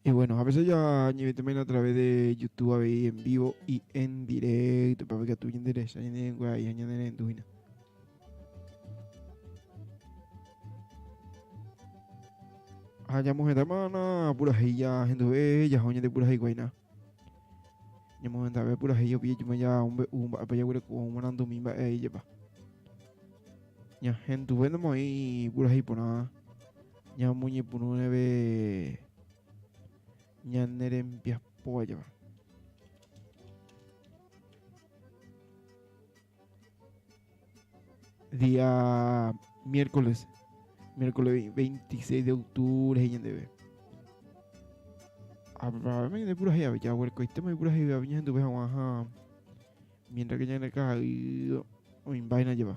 Y bueno, a veces ya ni también a través de YouTube a ver en vivo y en directo para que tú interés en el guay en el enduina. Allá mujer hermana, pura ya gente ve, ya joña de pura guayna. Ñamohendave purahéi opiã ijupe java ombe'u mba'épa jaguereko ou marandumi mba'e'aijepa. Ñahenduvénama oĩ purahéi porã ñamoñepyrũreve ñane rembiapóva java. Día miércoles, miércoles 26 de octubre, gente ve. Abraham de pura ya ya huerco este me pura ya viña gente ve a mientras que ya en el caja y o vaina lleva.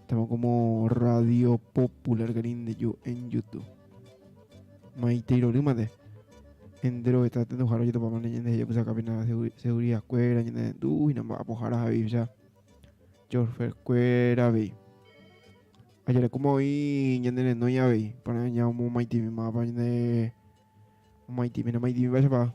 Estamos como Radio Popular Grinde yo en YouTube. Maite Rorymate. Entero está atento jaro yo topamos ñende yo que saca pena seguridad cuera ñende tú y namba apojara javi ya. Chorfer cuera vi. Ayer como hoy ñende no ya vi para ya un Maite mi mapa ñende Maite mi no Maite mi vaya para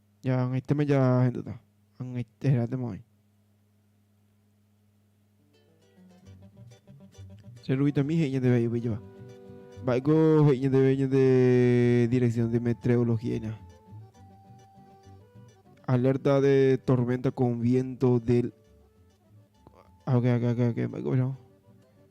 Ñaag̃aitéma jahendúta, ag̃aite he'íratema oĩ. Che Ruvitomí he'i ñande vai yvyjova. Mba'éiko he'i ñandéve ñande dirección de meteorología ina? Alerta de tormenta con viento del... Ah, ok, ok, ok, ok. Mba'éiko ohecha?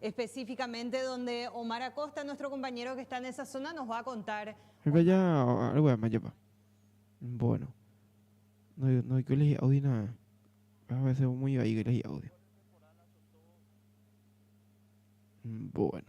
Específicamente donde Omar Acosta, nuestro compañero que está en esa zona, nos va a contar. Ha'épa ja regueramajapa. Bueno, noiko le hi'ávo hína, a veces muy vaígui le hi'ávo. Bueno.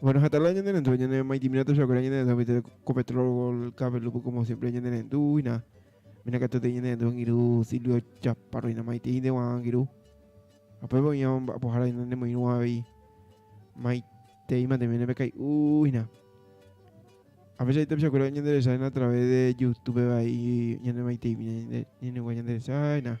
Bueno, hasta la ñande rendu, ñande mai timina tu shakura ñande rendu, viste, con petrol, gol, cable, lupo, como siempre ñande rendu, y nada. Mira que te ñande rendu, ngiru, silvio, chaparro, y nada más, y te inde guan, ngiru. Apo ebo ña, apo jara, ñande muy nueva, y mai, te ima, te viene, becai, uy, nada. A veces ahí te shakura ñande resaen a través de YouTube, y ñande mai te imina, ñande, ñande guan, ñande resaen, nada.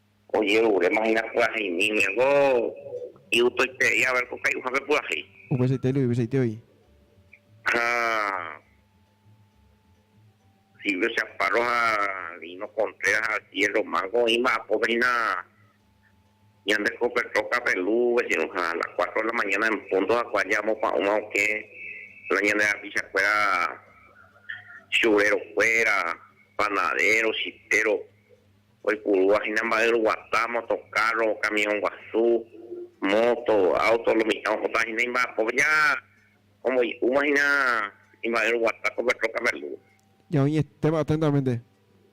Ojeruréma hína pyaheimíme, ko iutoitei a ver ko kai'uhápe pyahéi. Upeichaite oilu, upeichaite oĩ. Ha Silvio Chaparro ha Lino Contreras ha Cielo Mango oĩ mba'apópe hína ñande ko pe trókape lu vecino ha a las cuatro de la mañana en punto hakuã ja amopa'ũma okẽ la ñande rapicha kuéra churero kuéra, panadero, chipero. Oipurúva hína mba'e roguata, motokárro, kamiõ guasu, móto, áuto, lomicha ohóta hína imba'apópe ja omboy'úma hína imba'e roguata ko Petrókape Alúva. Ja oñetéma aténtamente.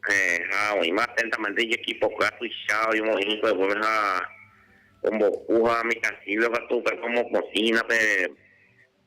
Héẽ, ha oĩma aténtamente ijekipoka tuicha oimo'ĩ hikueguépe ha ombopu ha mitãsíve katu upépe omopotĩ hína pe.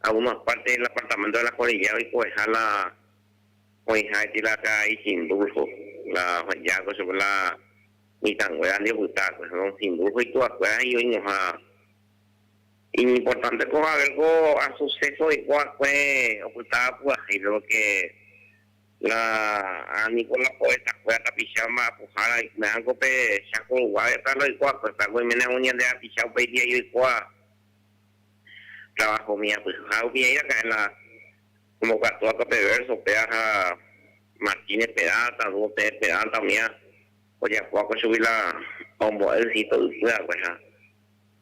Algunos parte del apartamento de la Cordillera oikoveha la oĩha eti la karai Sindulfo, la oheja'akue chupe la mitãnguérandi opyta'akue. Don Sindulfo ituvakuéra he'i oĩnoha, Iñimportante ko haber ko asuséso oikóva'ekue opytáva purahéi, péro ke la a niko la poetakuéra tapicha mba'apohára oikmé'arãko pe Cháko Ruguáve, péva la oikóva'ekue, pévako oiméne aún ñande rapicha upéi día joikóva. trabajo umi apyha ha umi ai raka'e la omokatu hasta pe verso pe aja Martínez Peralta, Dúo Pérez Peralta umi ha ojapo hako chugui la ombo'e ysito ypy hague ha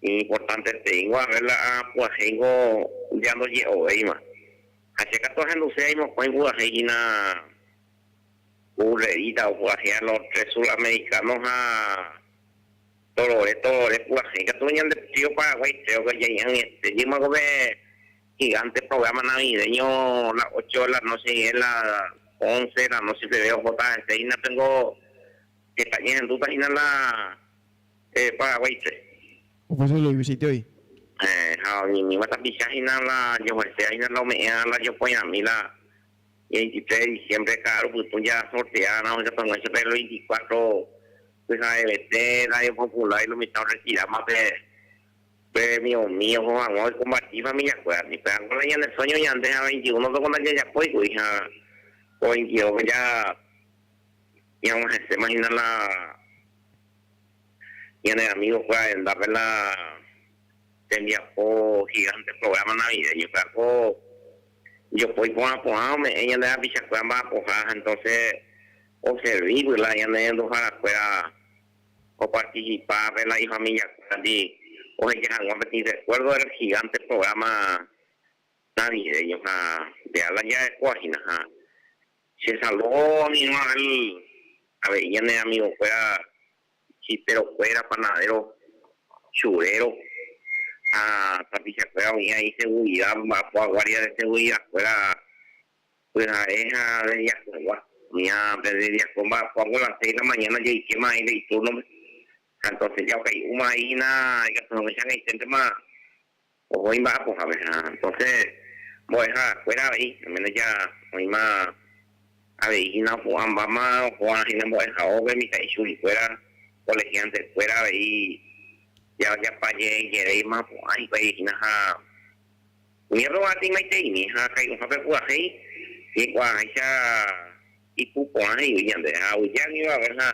iñimportante teíngo haver la apu'ãhéingo ya ndoje'ovéima ha che katu ahenduse ai mokõi pu'ãhéi hína Urrerita opu'ãhéa los tres sudamericanos ha Torore, torore purahéi katu ñande trío Paraguái tréope ñaĩ añete jýma kove gigánte prográma navideño la ocho de la noche hína la once de la noche peve ohóta hese hína péngo heta ñehendúta hína la Paraguáipe. Upéi sólo oĩ vesitíoi. Héẽ, ha oñeñýva tapicha hína la joheséva hína la ome'ẽva la jopoirãmi la veintitrés de diciembre ka'aru pytũ jaasorteárõ oikatuaguã chupe el veinticuatro pyha'evete Radio Popular y lo mitad orretiráma pe pe miõmi oho hag̃ua oikomparti familiakuérandi. Pévako la ñane sueño ñande ha veintiuno peko ndajajapói kuri ha ko veintidós pe ja ñag̃uahẽséma hína la ñane amigokuéra rendápe la tembiapo gigante programa navideño. Pévako. Jopói porã porã ome'ẽ ñande rapichakuéra mba'apoha ha entonces oservi vyla ñanerenduhára kuéra oparticipa pe la ifamilia kuérandi oheja hag̃ua peteĩ recuerdo del gigante programa navideño ha de ala jarekóva hína ha che saludo ninua el avei ñane amigo kuéra Chiperokuéra, panadero, churero ha tapichakuéra oĩha iseguridad mba'apo aguardia de seguridad kuéra pyhare ha deriakuegua. Oĩha pe deriako mba'apo apo las seis de la mañana jaikéma aĩ pe iturnope ha entonces jaukai'úma aíhina ikatu hagueichag̃uaiténtema. Oho imba'apo hague ha entonce mbo'eha kuéra avei, al menos ya oĩma avei hína opu'ãmbáma oho'a hína mbo'ehaópe mitã'i chugui kuéra, colegiantes kuéra avei ya ojapa je'e jeréima opu'ã hikuái hína ha ñérro va teimaiteimi ha kairuhápe pyahéi ñiku'aháicha ipu porã he'ígui ñande ha ovy'a guiva hague ha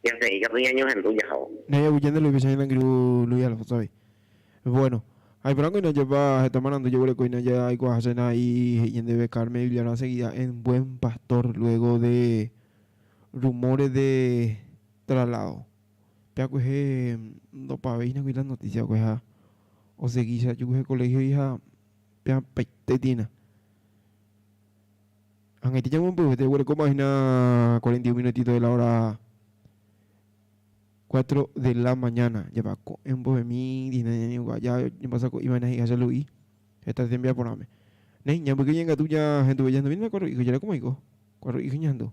Jase'i katu ñañohendu jahávo. Ndaha'éi aguyje nde loipecha hína angirũ Luis Alfonso-gui. Bueno, aiporãko hína jepa heta marandu jeguerekohína jaikuaahasena y he'i ñandéve Carmen Villarán seguida en buen pastor luego de rumores de traslado. Pe akuehe ndopave hína kuri la noticia va'ekue ha osegi che ajuhu he colegio-gui ha pe apaite tĩna. Ag̃aite ñamombyryete oguerekóma hína cuarenta y un minutito de la hora cuatro de la mañana. Jepa ko'ẽ mbohemi dihína ñañe'ũva. Ja ñapasa ko'ĩva hína hi'acha Lu'i heta tembiaporãme. Néi, ñambyke ñaikatu ñahenduve. Jahenduvéni hína cuatro hijos. Jarekomaiko cuatro hijos ñahendu.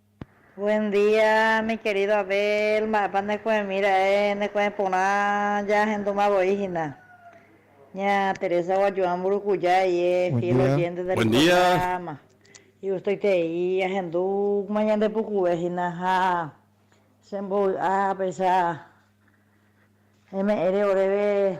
Buen día, mi querido Abel, mba'épa neku'ẽmi ra'e neku'ẽ porã jahendúma voi hína. Ña Teresa Guajuã Mburukuja eie fiel oyénte del programa. Igustoitei ahendúma ñande pukuve hína ha chembovy'a apecha eme'ẽre oréve.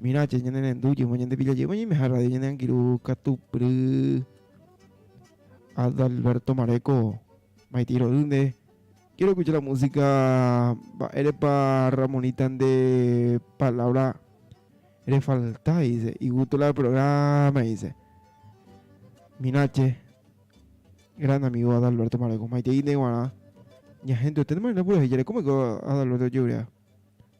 Mira che ñane rendu jymo ñande pilla jeyma ñaime ha radio ñande angirũ katu pry Adalberto Mareco maitei rory nde quiero escuchar la música mba'érepa Ramonita nde palabra re falta dice y gusto la programa dice mira che gran amigo Adalberto Mareco maitei nde guarã ña gente oténema nde pura he'i jare cómo ko Adalberto ojegurea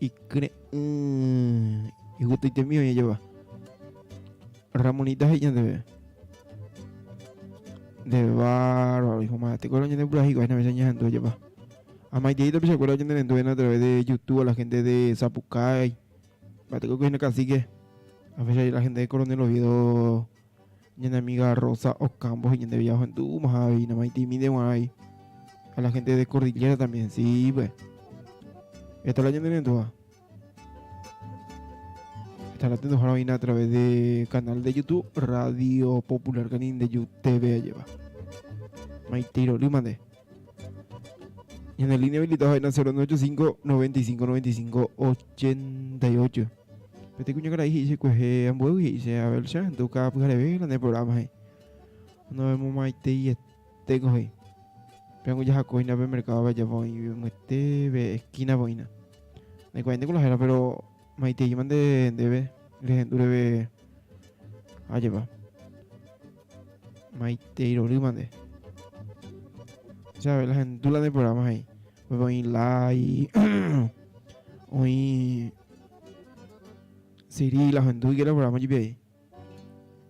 Ikyre'ỹ igueteitemi oñejeva. Ramonita he'i ñandéve, Nde bárbaro, dijo Maya, tekuéra oñandepuraha hikuái nde amecha ñahendu ojepa. Amaitei tapichakuéra oñenerenduvéna a través de YouTube a la gente de Zapucay, mba'etekue oiko hína cacique, a veces la gente de Coronel Oviedo Ñane amiga Rosa Ocampo he'i ñandéve jaohendu'úmaha avei namaitĩmínte guarãi ha la hénte de Cordillera también sive. Heta la ñanerendúva. Heta la tenduhára oĩna a través de canal de YouTube Radio Popular Canindeyú TV ajéva. Maitei rory mande. Ñane línea habilitado ha'éna 0985 95 95 88. Peteĩ kuñakarai he'i che kuehe ambuévagui he'i che Abel che ahendu káa pyhareve hína ne programa he'i. Novemomaitei etéko he'i. Peangu jahako hína pe mercado pejapo oĩ yvyete pe esquina po hína. Naikuaáinte ko la héra pero maiteíma nde ndéve rehendu reve ajépa. Maitei rorýma nde. Che Abel ahendu la ne programa he'i. Upépe oĩ Lai, oĩ Siri la ohendu hikuera operama jepi avei.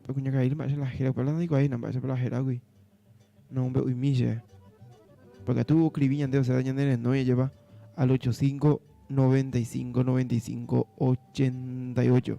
Pe kuñakaíri mba'éicha la héra, upéva la ndaikuaáina mba'éichapa la héragui. No ombe'uimi che. Porque katu oskrivi ñande osea ñane renói ajepa al ocho cinco, noventa y cinco, noventa y cinco, ochenta y ocho.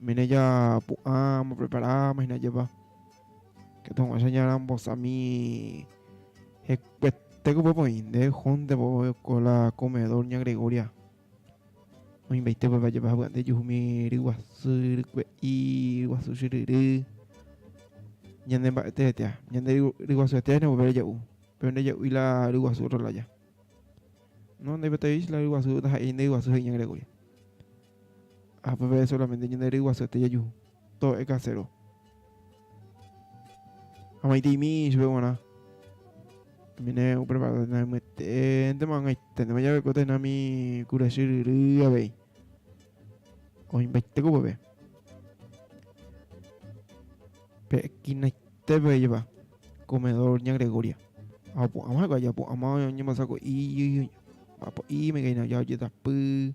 Mene japu'ã amboprepara hína jepa, katuguãicha ñarambosami hekuetéko upépe oĩ, nde jónte vove ko la comedor ña Gregoria, oĩmbaite upépe ajepa ha py'aite juhumi ryguasu, rykue'i, ryguasu chyryry, ñande mba'ete etea, ñande ryguasu etea hína upépe reja'u, péro nde ja'úi la ryguasu otro lája, no ndaipotaivéi che la ryguasu taha'éi nde ryguasu he'i ña Gregoria. Ha upévare sólamente ñane ryguasuete jaju tóo ekaséro. Ha maitĩmi chupe g̃uarã. También opreparáta haimyeténtema ag̃aiténtema jave ko tendámi kura chyryry avei. Oĩmbaite ko upépe. Pe esquinaite pe jepa comedor ña Gregoria. Ha opu'ãma hikuái, opu'ãma oñembosako'i, mba'apo'íma ikañy oja ojetapy.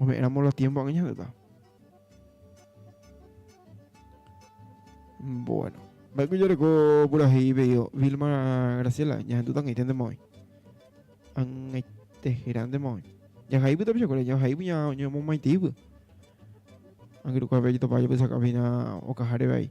Ome'ẽramo la tiémpo aña heta. Bueno. Mba'éiko jareko purahéi pedido Vilma Graciela ñahendu tangaiténte mavoi. Angaitehérante mavoi. Jahaígui tapichakuéra, jahaígui ñamomaiteígui. Angirũkuape ajetopáva japysakávo hína okaháre vai.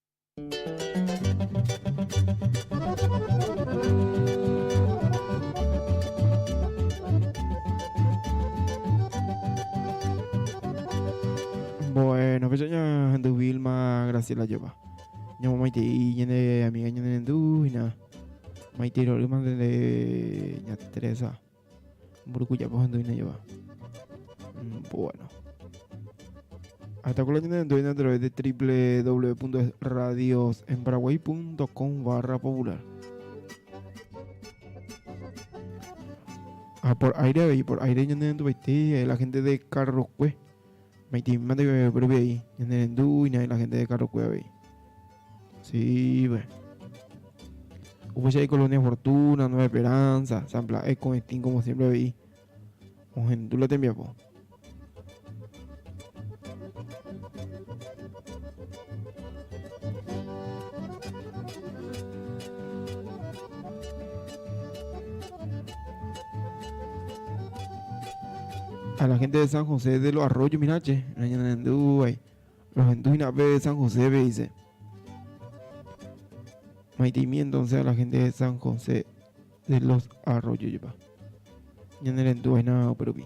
Bueno, pues ya ando Vilma Graciela lleva. Ya mamá y te y ya de amiga ya de ndu y na. Maite y lo demás de ya Teresa. Mburuku jako ha ndoína jova. Mm, bueno. Hasta con la tienda en a través de www.radiosenparaguay.com barra popular. Ah, por aire, y por aire ñande en eh, la gente de Carrocue. Me mande que me previa ahí. Ñande en y la gente de Carrocue ahí. Sí, pues. Upéicha Colonia Fortuna, Nueva Esperanza, San Blas, Ecoestín, como siempre veí. Ohendu la tembiapo. a la gente de San José de los Arroyos, mira, che, Rohendúina pe San Josépe, he'ise. Maitĩmi entonce a la gente de San José de los Arroyos, jepa. Ñanerendu aína upe rupi.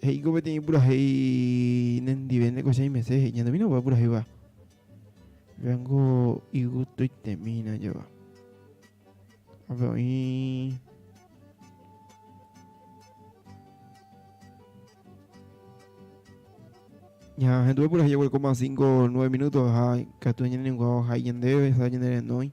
He'íko peteĩ purahéi nendive nde koichãi mese he'i ñande mína opa purahéiva. Veango igustoitemína java. Ape oĩ Ya, gente por ahí, 5, 9 minutos, ha, catu ñene ninguao, ha ñende, sa ñende renoi.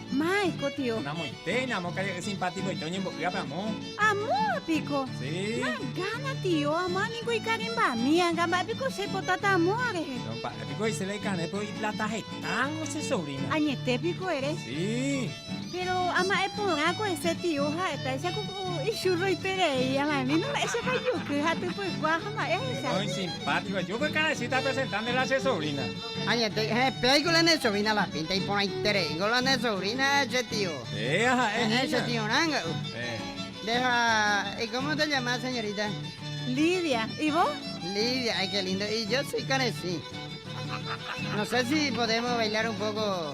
Mãi ko tio. Namoitéi, namokaje'y simpatikoite oñembo'y ápe amo. Amóva piko? Sí. Nagána tio, amo aningo ikarimbami, anga mba'e piko che potáta amóva rehe. No, mba'e piko he'isela ikarẽ pero iplata hetángo che sobrina. Añete piko ere? Sí. Pero ama'e porã ko hese tio ha'etáicha ko ko ichurro iperei, ama'e vino mba'éichapa ijoky ha typykua ha mba'e ahecha. No, isimpátiko, yo ko ikarãichita presentárnela che sobrina. Añetéi, ehe, pe aiko la ne sovina la pínta iporãitereíngo la ne sovrina che tio. Péa ha'e hína. Ehe, che tio ranga'u. Nde ha y cómo se llama señorita? Lidia. Y vos? Lidia, ay qué lindo. Y yo soy Karesy. No sé si podemos bailar un poco.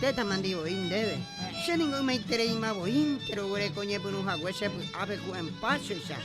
Téta mandi voi ndéve, che ningo ymaitereíma voi che roguereko ñepyrũ hague che py'ápe ku en páchoicha.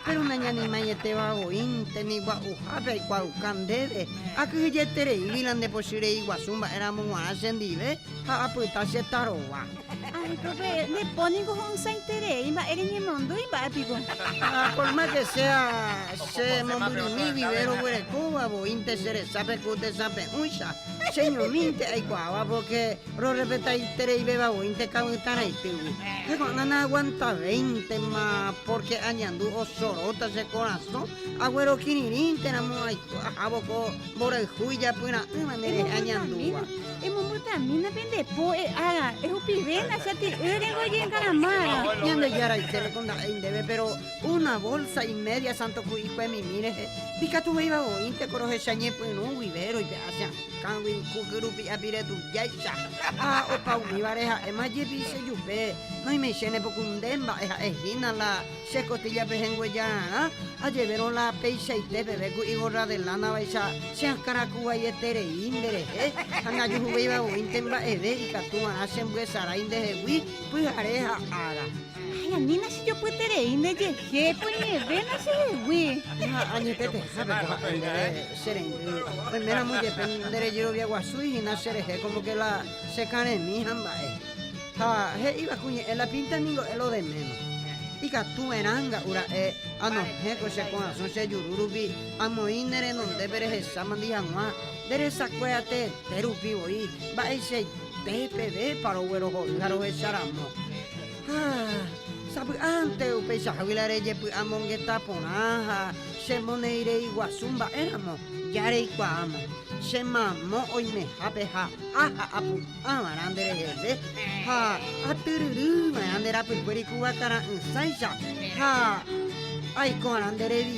Péro nañanimaieteva voi tembigua'uhápe aikuaauka ndéve, akyhyjetereígui la nde pochy rei guasu mba'e ramo g̃uarã che ndive ha apyta che tarova. Areko pe, nde po ningo ho'ysãiterei mba'e reñemondýi mba'e piko. Ha por más que sea che mombyrymi guive roguerekóva voi che resápe ku tesãpe'ũicha, Cheñomínte aikuaáva pórke rorrespetaitereivéva voínte ka'ỹtãraitýgui. Heko'ãna naaguantavéintema pórke añandu osoróta che korasõ, aguerokirirĩnteramo aikuaahávo ko mborayhu ijapyra'ỹva nderehe añandúva. Emombyrtamína pende po, e'ága, ehupivéna chati'y rengoyengaramága. Ñandejára, ichéneko nda'éi ndéve, péro Una bolsa y media santo ku'ikue mimi rehe, ikatuvéiva oĩnte ko rohecha ñepyrũ guive roipe'a che akãgui ku kyrupi'a pire tujáicha. Ha opa umívare ha'éma jepi che jupe, noimeichene pokunde mba'e ha'e hína la che kotíllape henguejararã, ajevérõ la peichaite peve ku igorra de lánavaicha che akã raku vaieterei nde rehe, ha najuhuvéiva oĩnte mba'eve ikatu va'erã chembyesarái nde hegui pyhare ha ára. Ay, anína chejopyeterei nde jeje, koñevéna chehegui. Ha añetetehápe ko ha'e ndéve che rendy, oiméramo jepe nde rejerovia guasúi hína che rehe kómo ke la che karẽmi ha mba'e. Ha he'íva ku ñe'ẽ la pínta ningo e lo deméma. Ikatu va'erã nga'u ra'e anohẽ ko che korasõ che juru rupi, amoĩ ne renondépe rehechámandi hag̃ua nde resakue ateete rupi voi, mba'eichaite. Peẽ pevépa roguerohory ha rohecha ramo. Ha sapy'ánte upeichahágui la rejepy'amongeta porã ha chemonereiiguasu mba'e ramo, ja reikuaáma. Che mamo oimehápe ha a ha apu'ã va'erã nde reheve, ha atyryry va'erã nde rapykuéri ku vakara'ỹsáicha, ha aiko va'erã nde revi.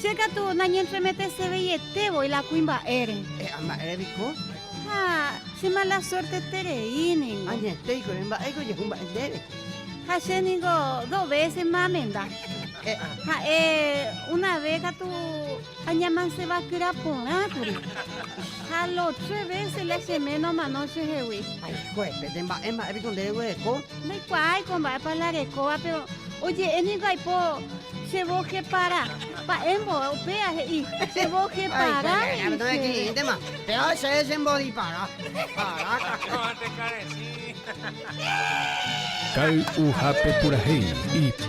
Che katu nañentremetese veiete voi la kuimba'ére. E'a mba'ére piko? Ha che mala suerteterei ningo. Añetéiko ere mba'éiko ojehu mba'e ndéve. Ha che ningo dos vése ma amenda. E'a. Ha'e una vé katu añamansevakyra porã kuri. Ha lo tres vése la che méno omano chehegui. Haikuépe, nde mba'e mba'e piko nde reguereko? Ndaikuaái ko mba'épa la rekóva, péro oje'e ningo aipo che vos jepara. Mba'e mbo'e upéva he'i che vos jepara he'i chéve. Péva che chembodipara. Kay'uhápe purahéi.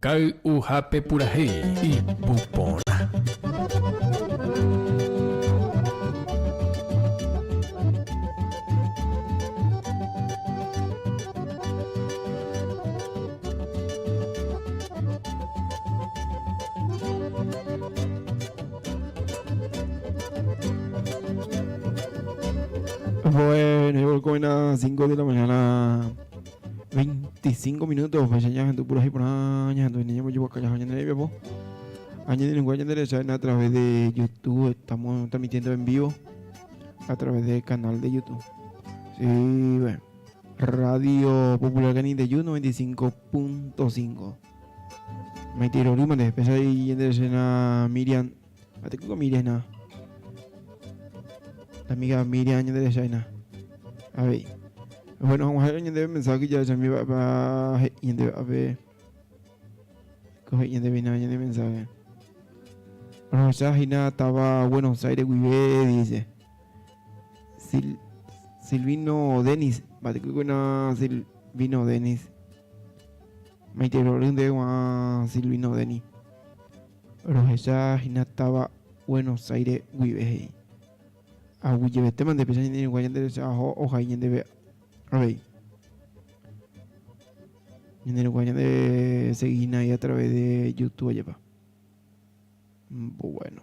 Kay'uhápe purahéi, ipu porã. Bueno, buenas, 5 de la mañana. 25 minutos upéicha ñahendu purahéi porã ñahendu hína ñambojeguaka jaha ñane rembiapo ha ñane renunga ñande resa hína a través de YouTube estamos transmitiendo en vivo a través de canal de YouTube sí bueno Radio Popular Canindeyú 95.5 Maite Irorýmante, pesa y Miriam Atekýi ko Miriam hína. La amiga Miriam ñanderehecha hína. Avei. Bueno, hag̃ua ha'e ñandéve mensaje jahechami va'epa he'i ñandéve ape. Ko he'i ñandéve hína ñande mensaje. Rohecha hína táva Buenos Aires guive, dice. Sil Silvino Denis, mba'etekýi kuéna Silvino Denis. Maiterorýnte guã Silvino Denis. Rohecha hína táva Buenos Aires guive he'i, Aguyjevetéma ndepecha ñande irũnguáre ñande resa aho ohai ñandéve avei. Ñande irũnguáre ñande segi hína a través de Youtube ajapa. Bueno.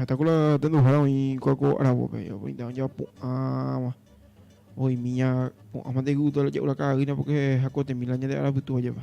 Heta ko la tenduhára oĩ kuako aravópe, oĩta oñe'ẽva pu'ãva, oĩmi ña pu'ã mante guto la ja'u la ka'aýna porque hakotemi la ñande ára pytúva jepa.